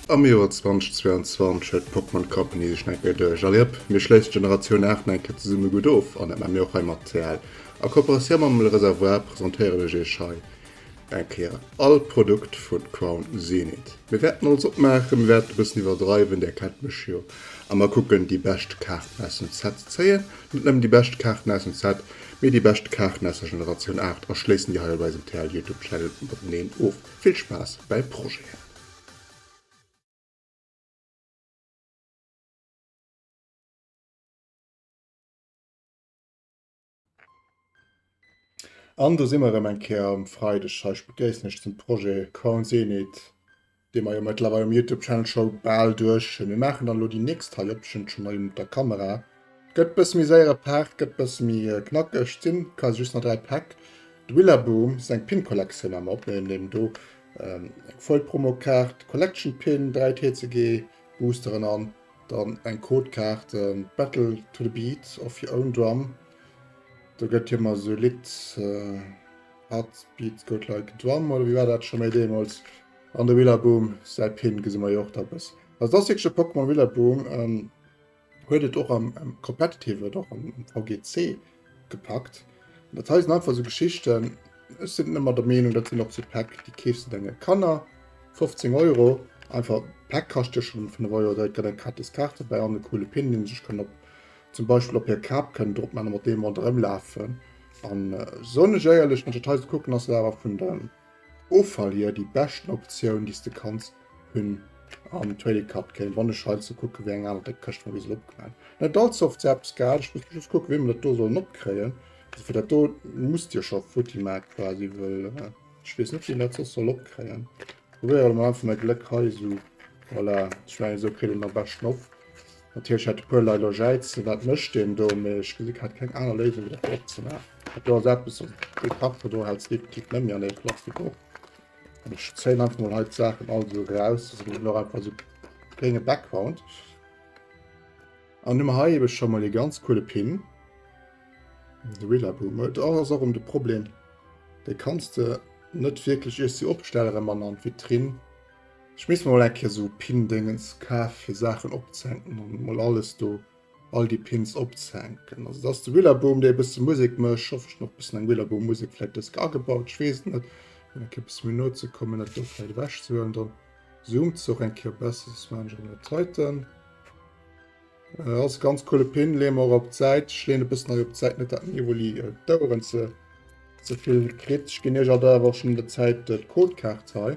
Am Joer 2022 huet d'Pokémon Company sech nach eng Kéier duerch. Alliëpp, mir schléissen d'Generatioun 8 nach eng Kéier zesumme gutt of, an dat maache mir och hei mat CL. A Kooperatioun mam Le Réservoir presentéieren ech iech hei Eng Kéier all Produkt vun Crown Zenith. Mir wärten alles opmaachen, mir wärten e bëssen iwwerdreiwen, där kennt mech jo, a mer kucken déi bescht Kaarten aus dem Set ze zéien, net nëmmen déi bescht Kaarten aus dem Set, mee déi bescht Kaarten aus der Generatioun 8 a schléissen déi hei op eisem TL Youtube Channel mateneen of. Vill Spaass bäi Projeten! An do si mer erëm eng Kéier um Freideg hei. Ech begréissen iech zum Projet Coin Zenit, dee mer jo mëttlerweil um Youtube-Channel scho bal duerch hunn. Mir maachen dann elo déi nächst hei op. Ech hunn et scho mol mat der Kamera. Gëtt e bësse méi séier, e Paart gëtt e bësse méi knackeg. D'sinn quasi just nach dräi Päck. De Willaboom, seng Pin-Kollektioun hu mer opgeholl. Mir hunn do eng Foil-Promo-Kaart, Collection-Pin, dräi TCG-Boosteren an. Dann eng Codekaart, Battle to the beat of your own drum. Do gëtt jo mar sou Lidd Heart beats goat like a drum, oder wéi war dat scho méi deemools? An de Willaboom säi Pin gesi mer jo och da bëssen. Also dat ass wierklech e Pokémon Willaboom. Huet et och am Competitive, et och am VGC. gepackt. Dat hei sinn einfach sou Geschichten, ech sinn ëmmer der Meenung, dat sinn och sou Päck, déi keefs de denge Kanner, 15 Euro, einfach, d'Päck kascht jo schonn 5 Euro, da gëtt eng gratis Kaart dobäi an e coole Pin, dee sech kënn op zum Beispill op hir Kap kënn drop maachen a mat deem ronderëm lafen. An soen ech éierlech, wann ech dat hei sou kucken, ass dat awer vun de. Offall jee déi beschten Optioun déi s de kanns hunn an Trading Card Game. Wann ech hei ze kucke wéi eng aner déck Këscht mer bis elo opgemaach hunn. Net all Soft se eppes gehat. Ech muss just kucke wéi mer dat do sollen opkréien. Also fir dat do musst Dir scho futti maache quasi, wëll ech weess net wéi een dat soss soll opkréien. Probéiere mer einfach mäi Gléck hei esou. Voilà, ech mengen esou kritt een et am beschten op. Natierlech hat e puer Lei lo Jäizen, wat mécht deen do? Mee ech gesi grad keng aner Léisung wéi dat do opzemaachen. Dat do ass eppes, also dee Karton do hält se definitiv net méi an dee Plastik op. An ech zéien einfach mol hei d'Saachen all esou eraus, dass een eben och einfach esou klénge Background. An hunn mer hei ebe scho mol ee ganz coole Pin. De Rillaboom. Et ass och erëm de Problem, dee kanns de net wierklech iers de opstelle rëm an an d'Vitrinn. Ech misst mer mol eng Kéier sou Pindëngens kaf fir Saachen opzehänken an mol alles do, all déi Pins opzehänken. Also dat ass de Willaboom dee e bësse Musek mécht. Hoffen ech hunn och e bëssen eng Willaboom Musek vläit dës Kéier agebaut, ech weess et net. Fir eng Kéier e bësse méi no ze kommen, dat do vläit ewech ze huelen, dann zoomt se och eng Kéier besser. Soss maachen ech och nach d'Zeiten. Äh, ass e ganz coole Pin, leeë mer och op d'Säit. Ech leeën e bëssen hei op d'Säit, net dat den Evoli d'Oueren ze ze vill kritt. Ech ginn iech all der awer och schonn an der Zäit d'Codekaart hei.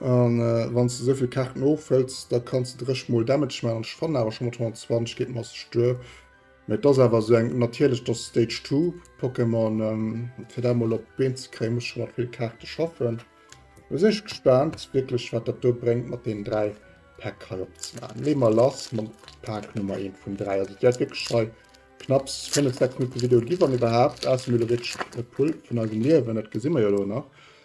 An wann s de souvill Kaarten ofhëls, da kanns de dréch mol Damage man. An ech fannen awer scho mat 120 geet mass duer. Mee et ass awer esou eng natierlech, dass Stage 2 Pokémon fir dat mol op d'Been ze kréien, muss scho mat vill Kaarte schaffen. Lo sinn ech gespaant wierklech, wat dat do bréngt mat deenen 3 Päck hei opzemaachen. Leeë mer lass mam Pak Nummer 1 vun 3. Also et wäert wierklech hei knapps 5, 6 Minutte Video ginn, wann iwwerhaapt. Ausser mir elo wierklech e Pull vun eisem Liewen, dat gesi mer jo elo nach.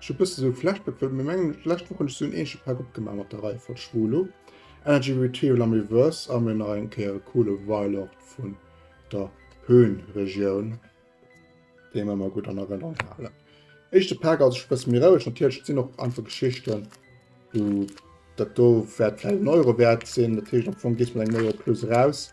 Ech hu bësse sou Flashback well mir mengen lescht Woch hunn ech sou en ähnleche Pack opgemaach mat der Reihe vun Schwulo, Energy Retreal am Reverse a mir nach eng Kéier e coole Weilort vun der Höhenregion deen mer emmer gutt an Erënnerung halen. Éischte Pack ass e bësse méi roueg, natierlech et sinn och einfach Geschichten wou dat do wäert vläit en Euro wäert sinn, dat heescht am Fong gees mat engem Euro plus eraus.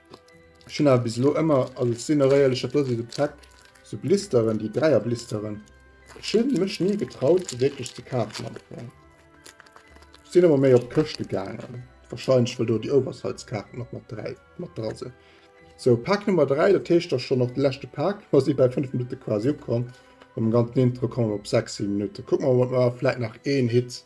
Ech hunn awer bis elo ëmmer, also et sinn eréierlech et do si sou Tech, sou Blisteren, déi Dräier Blisteren, ech hunn mech ni getraut se wierklech ze kafen am Fong. Ech sinn ëmmer méi op Këschte gaangen, wahrscheinlech well do déi Oversize-Kaarten och mat dräi mat dra sinn. Sou Pak Nummer 3, dat heescht ass schonn och de leschte Pak, mer si bäi 5 Minutte quasi ukomm, mam ganzen Intro komme mer op 6, 7 Minutte, kucke mer, ob mer vläit nach een Hit.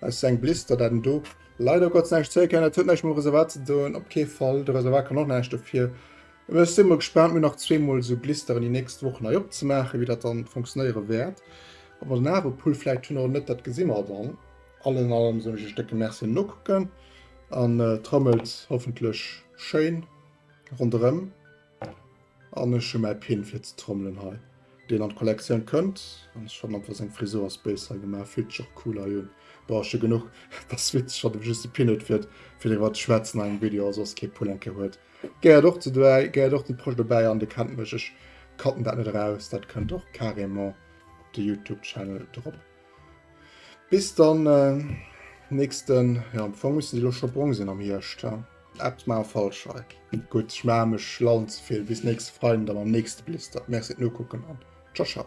Aus se eng Blister dat en do. Leider Gottes näischt zéie kennen, dat huet näischt mam Reservat ze doen, op kee Fall, de Reservat kann och näischt dofir. Mee ech si mol gespaant, mir hunn nach zwee mol esou Blisteren déi nächst Wochen hei opzemaachen, wéi dat dann funktionéiere wäert. Ob mer den Avepull vläicht hunn oder net, dat gesi mer dann. Alles an allem soen ech iech décke Merci an Nokucken an trommelt hoffentlech schéin ronderëm. An ech hu mäi Pin fir ze trommelen hei, deen an d'Kollektioun kënnt. An ech fannen einfach seng Frisur ass béis hei gemaach, fillt sech och cool hei un. Bon, ass jo genuch, ass witzeg, datt e just de Pin huet fir driwwer ze schwätzen an engem Video a soss kee Pullen ke huet. Gehéiert och ze dobäi, gehéiert och zum Projet dobäi an Dir kennt mech, ech cutten dat net eraus, dat kënnt och carrément op de Youtube Channel drop. Bis dann äh, nächsten, ja am Fong müssen sie lo schon brong sinn am Hierscht. Ja. App ma falsch hei. Gut, ich ma mech schlauen zu viel. Bis nächste Freien dann am nächste Blister. Merci no gucken an ciao ciao.